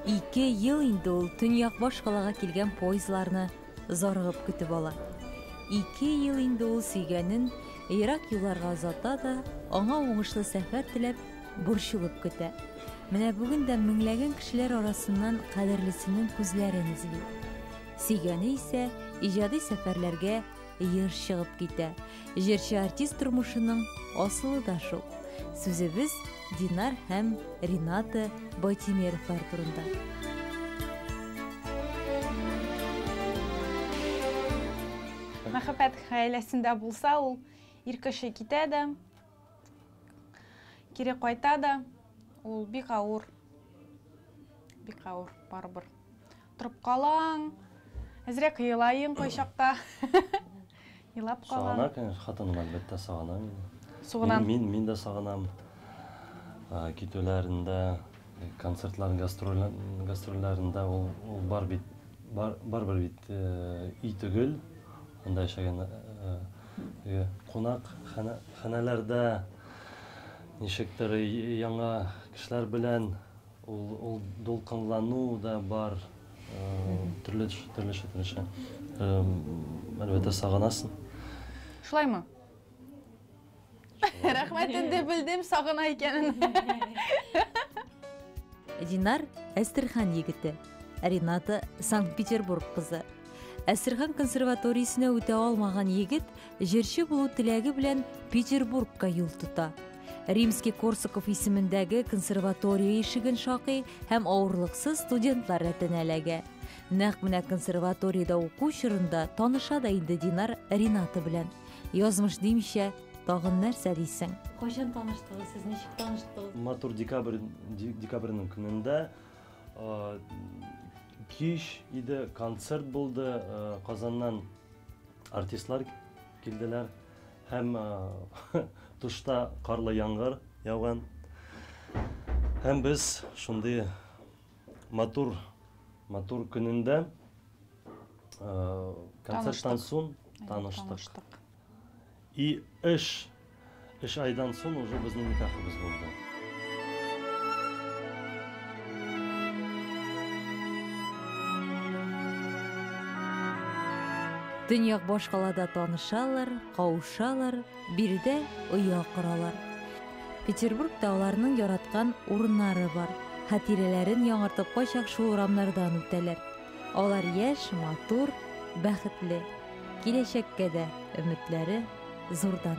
Ике ел инде ул төньяк башкалага килгән поездларны зарыгып көтеп ала. Ике ел инде ул сөйгәнен ерак юлларга озата да, аңа уңышлы сәфәр теләп, борчылып көтә. Менә бүген дә меңләгән кешеләр арасыннан кадерлесенең күзләрен эзли. Сөйгәне исә иҗади сәфәрләргә еш чыгып китә. Җырчы артист тормышының асылы да шул. Сүзебез Динар һәм Рената Байтимеровлар турында. Мәхәббәт гаиләсендә булса, ул ир кеше китә дә, кире кайта да, ул бик авыр, бик авыр барыбер. Торып калаң. Әзрәк елаең кайчакта. Елап калаң. Сагына, конечно, хатыным әлбәттә сагына мине. Сугынам. Мин, мин, мин дә сагынам. Ә, Китүләрендә, э, концертлар, гастрольләр, гастрольләрендә ул, ул бар бит, бар, барыбер бит э, өй түгел. Анда яшәгән э, э, кунак хана- ханәләрдә ничектер э, яңа кешеләр белән Ул дулкынлану да бар, төрле төрлечә төрлечә. Әлбәттә, сагынасың. Шулаймы? Рәхмәт, инде белдем, сагына икәнен. Динар, Әстерхан егете. Рената, Санкт-Петербург кызы. Әстерхан консерваториясенә үтә алмаган егет җырчы булу теләге белән Петербургка юл тота. Римский Корсаков исемендәге консерватория ишеген шакый һәм авырлыксыз студентлар рәтенә эләгә. Нәкъ менә консерваториядә уку чорында таныша да инде Динар Рената белән. Язмыш димичә, тагын нәрсә дисең? Кайчан таныштыгыз, сез ничек таныштыгыз? Матур декабрь декабрьнең көнендә Кич иде, концерт булды, Казаннан артистлар килделәр һәм тышта карлы яңгыр яуган. Һәм без шундый матур, матур көнендә концерттан соң таныштык. И эш! Эш айдан сон уже безнең никахыбыз булды. Төньяк башкалада танышалар, каушалар, биредә оя коралар. Петербургта аларның яраткан урыннары бар. Хатирәләрен яңартып кайчак шул урамнардан үтәләр. Алар яшь, матур, бәхетле. Киләчәккә дә өметләре зурдан.